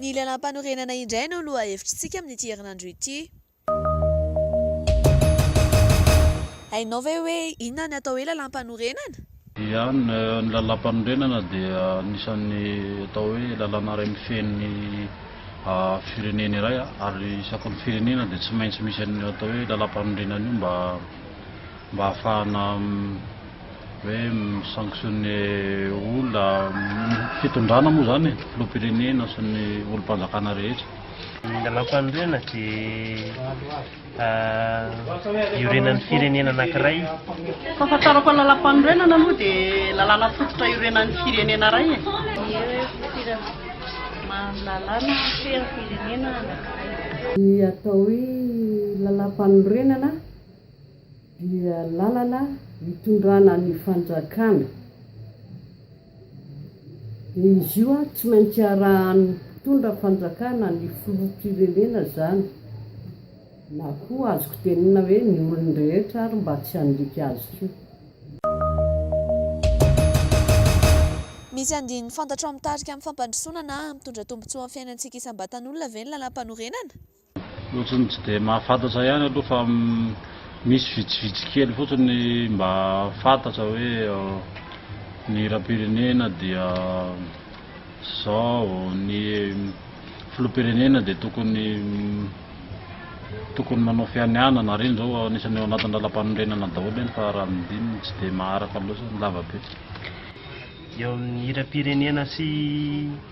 Ny lalam-panorenana indray no lohahevitr'tsika amin'ity herinandro ity. Hainao ve hoe inona ny atao hoe lalam-panorenana? Ia, ny Lalàmpanorenana dia anisan'ny atao hoe lalàna iray mifehy ny firenena iray ary isaky ny firenena dia tsy maintsy misy an'io atao hoe lalàmpanorenana io mba mba ahafahana hoe mi-sanctionner olona, fitondrana moa izany e, filoham-pirenena sy ny olom-panjakana rehetra. Ny lalàmpanorenana dia iorenan'ny firenena anankiray. Fahafantarako ny lalam-panorenana aloha dia lalàna fototra iorenan'ny firenena iray e. Lalàna fitoeran'ny firenena anankiray. Ny atao hoe lalam-panorenana dia lalana itondrana ny fanjakana. Izy io ary tsy maintsy arahan'ny mpitondra fanjakana ny filoham-pirenena izany na koa azoko tenenina hoe ny olon-drehetra ary mba tsy handika azy koa. Misy andininy fantatrao mitarika amin'ny fampandrosoana na hampitondra tombontsoa amin'ny fiainantsika isam-batan'olona ve ny lalàmpanorenana? Ohatry ny tsy dia mahafantatra ihany aloha fa misy vitsivitsy kely fotsiny mba fantatra hoe ny hiram-pirenena dia izao, ny filoham-pirenena dia tokony tokony manao fianianana ary iny izao anisan'ny ao anatin'ny lalàmpanorenana daholo iny fa raha ny dimy tsy dia maharaka loatra ny lavabe. Eo amin'ny hiram-pirenena sy.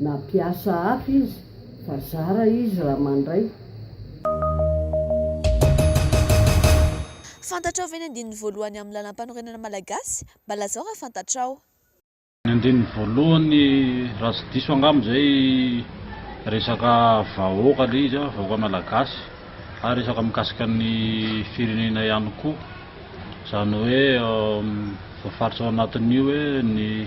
Na mpiasa hafa izy fa zara izy raha mandray. Fantatrao ve ny andininy voalohany amin'ny Lalampanorenana Malagasy? Mba lazao raha fantatrao. Ny andininy voalohany raha tsy diso angamba izay resaka vahoaka ilay izy a, vahoaka malagasy ary resaka mikasika ny firenena ihany koa, izany hoe voafaritra ao anatin'io hoe ny.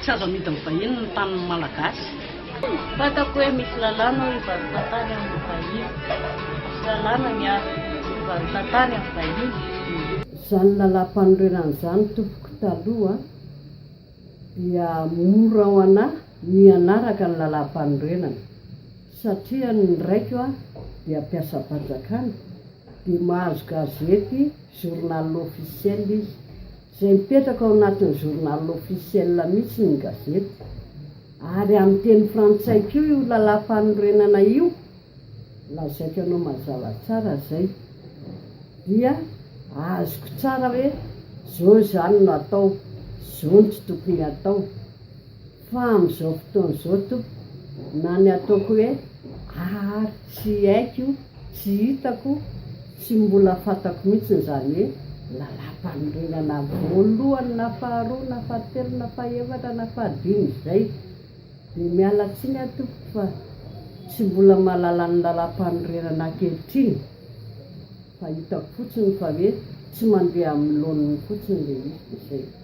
Tsy azo amidin'ny vahiny ny tanin'ny Malagasy. Fantako hoe misy lalàna hoe hivarotan-tany amin'ny vahiny. Misy lalàna ny ahy hivarotan-tany amin'ny vahiny. Izany lalàmpanorenana izany tompoko taloha dia mora ho anà ny hanaraka ny lalàmpanorenana satria ny raiko aho dia mpiasam-panjakana dia mahazo gazety, journal officiel, izy. izay mipetraka ao anatin'ny journal officiel mihitsy ny gazetiko, ary amin'ny teny frantsay koa io lalàmpanorenana io, lazaiko anao mazava tsara izay, dia azoko tsara hoe zao izany no atao, zao no tsy tokony atao. Fa amin'izao fotoana izao tompoko na ny ataoko hoe ary tsy haiko, tsy hitako, tsy mbola fantako mihitsy izany hoe lalam-panorenana voalohany na faharoa na fahatelo na fahefatra na fahadimy izay. Dia miala tsiny aho tompoko fa tsy mbola mahalala ny lalam-panorenana ankehitriny fa hitako fotsiny fa hoe tsy mandeha amin'ny laoniny fotsiny ilay izy dia izay.